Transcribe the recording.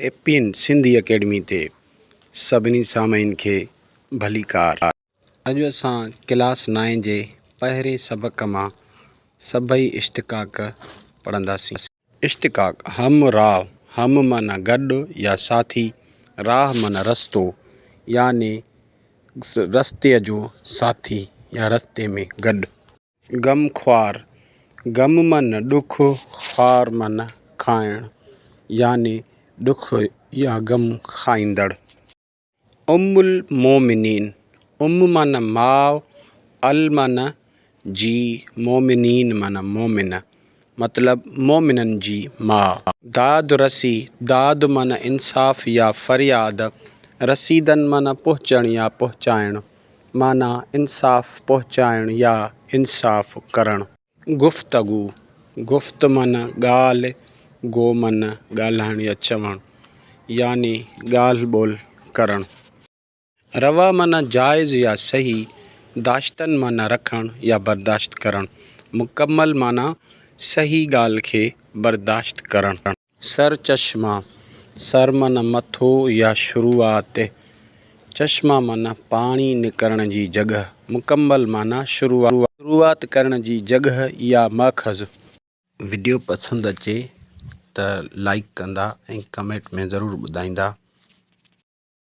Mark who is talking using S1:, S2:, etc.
S1: اي P N Sindhi academy تي سڀني سامعين کي ڀليڪار. اڄ اسان ڪلاس نائين جي پهرين سبق مان سڀئي اشتقاق پڙهنداسين. اشتقاق، هم راهه، هم معنيٰ گڏ يا ساٿي، راهه معنيٰ رستو يعني رستي جو ساٿي يا رستي ۾ گڏ. غم خوار، غم معنيٰ ڏک، خوار معنيٰ کائڻ يعني ڏک يا غم کائيندڙ. ام المومنين، ام معنيٰ ماء، ال معنيٰ جي، مومنين معنيٰ مومن. مطلب مؤمنن جي ماء. داد رسي، داد معنيٰ انصاف يا فرياد، رسيدن معنيٰ پهچڻ يا پهچائڻ، معنيٰ انصاف پهچائڻ يا انصاف ڪرڻ. گفتگو، گفت معنيٰ ڳالهه، گو معنيٰ ڳالهائڻ يا چوڻ، يعني ڳالهه ٻولهه ڪرڻ. روا معنيٰ جائز يا صحيح، داشتن معنيٰ رکڻ يا برداشت ڪرڻ، مڪمل معنيٰ صحيح ڳالهه کي برداشت ڪرڻ. سرچشمه، سر معنيٰ مٿو يا شروعات، چشمه معنيٰ پاڻي نڪرڻ جي جڳهه، مڪمل معنيٰ شروعات ڪرڻ جي جڳهه يا ماخذ. وڊيو پسند اچي ته لائيڪ ڪندا ۽ ڪمينٽ ۾ ضرور ٻڌائيندا.